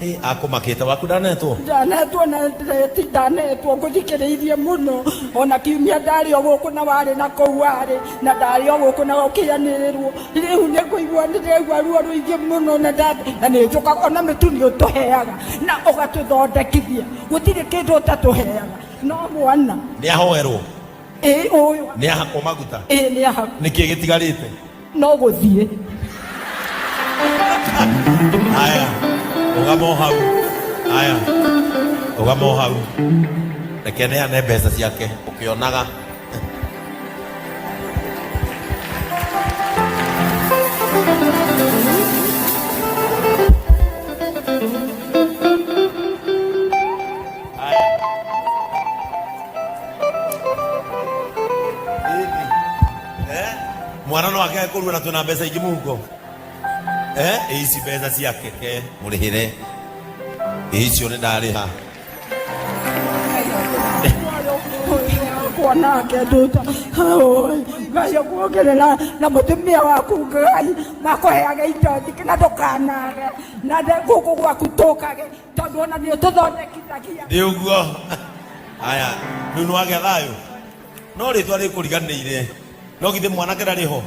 Ĩ, akũmakĩte waku ndanetwo ndanetwo na ndeti ndanetwo ngũthikĩrĩirie mũno ona kiumia ndarĩ o gũkũ na warĩ na kũu warĩ na ndarĩ o gũkũ na ũkĩanĩrĩrwo rĩu nĩ kũigua nĩ ndĩraigua ruo rũingĩ mũno na nda- na nĩ njũkaga ona mĩtu nĩ ũtũheaga na ũgatũthondekithia gũtirĩ kĩndũ ũtatũheaga no mwana nĩ ahoerwo ĩ ũyũ nĩ ahakwo maguta ĩ nĩ ahaku nĩkĩ gĩtigarĩte no gũthiĩ haya ũgamo hau haya ũgamo hau reke neane mbeca ciake ũkĩonaga eh? mwana no age kurua na twina mbeca ingi muhuko eh? ici mbeca cia keke murihire icio ni ndariha kuona wake nduta ngai akuongerera na mutumia waku ngai makuheage indo nyingĩ na ndũkanage na nde- gũkũ gwaku tũkage tondũ ona nĩ ũtũthondekithagia ndi uguo aya riu nwagia thayo no rĩtwa rĩkũriganĩire no githĩ mwanake ndarĩ ho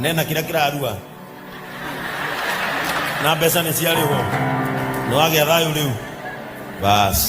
nena kĩrĩa kĩrarua na mbeca nĩ ciarĩ ho nĩ wagĩa thayũ rĩu basi